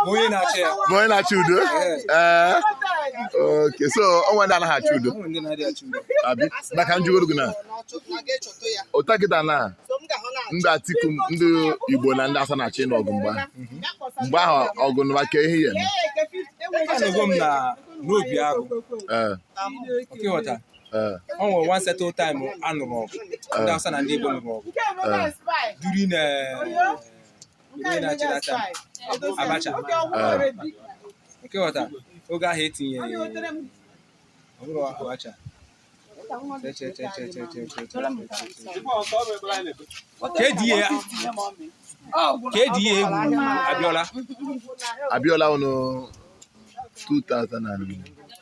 onye na-achọ udo ee okay so o nwee ndị anaghị achọ udo abi maka njụgoro gị na ụta kịta na ndị Atiku ndị Igbo na ndị Hausa na-achọ ịnụ ọgụ mgbe mgbe ahụ ọgụ nụwa ka ihe ya n'Obiagụ Eh. o nwere one certain time a nụrụ ọgụ ndị eh. Hausa na ndị Igbo nụrụ ọgụ eh. during Abacha okay ghọta oge ahụ etinye Abacha kedụ ihe a egwu Abiola Abiola oh no 2000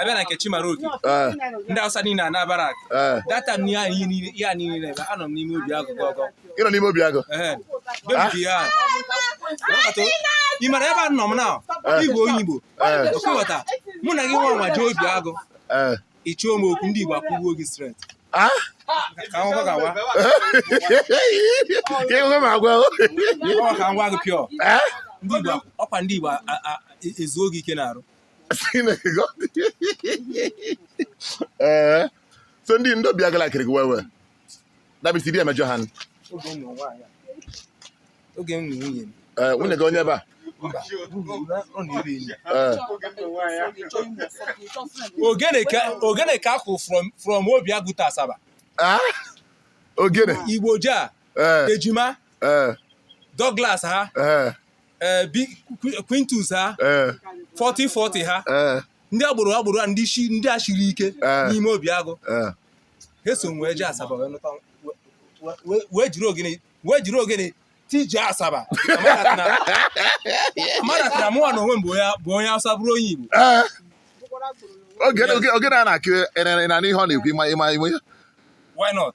abịa na nke Chimaroke eh. ndị Hausa niile a na barrack eh. data m ihe anyị niile ebe anọ m n'ime Obiagụ gọgọ ị nọ n'ime Obiagụ ah. ị mara ebe a nọ m na eh. igwe onye Igbo okay ghọta mụ na gị nwa nwa jee Obiagụ ị chọọ m okwu ndị Igbo akụgbuo gị straight ah? ịhụhụ ma agwa ka ngwa gị pịọ ọkwa ndị Igbo ezuo gị ike n'arụ ee eh, so ndị ndị Obiagụ la-ekiri gị wewe dabisi di emejọ ha oge m nwunye m eh, nwunye gị onye ebe a eh. ogene ka a kụ from Obiagụ to Asaba ah? ogene Igbo Jah Ejima Douglas ha ee bi Qu- Quintus ha ee 4040 ha ee ndị agboro agboro a ndị shi ndị a shiri ike Eh. n'ime Obiagụ ee ha so wee jee Asaba wee nụta we- we- we- wee jiri ogene wee jiri ogene tije Asaba amanatara mụwa na onwe m bụ onye bụ onye Awụsa bụrụ onye Igbo ee oge oge- ogene a na-akụ ị na- ị na-anụ ihe ọ na-ekwu ị ma ị ma ị ma ya why not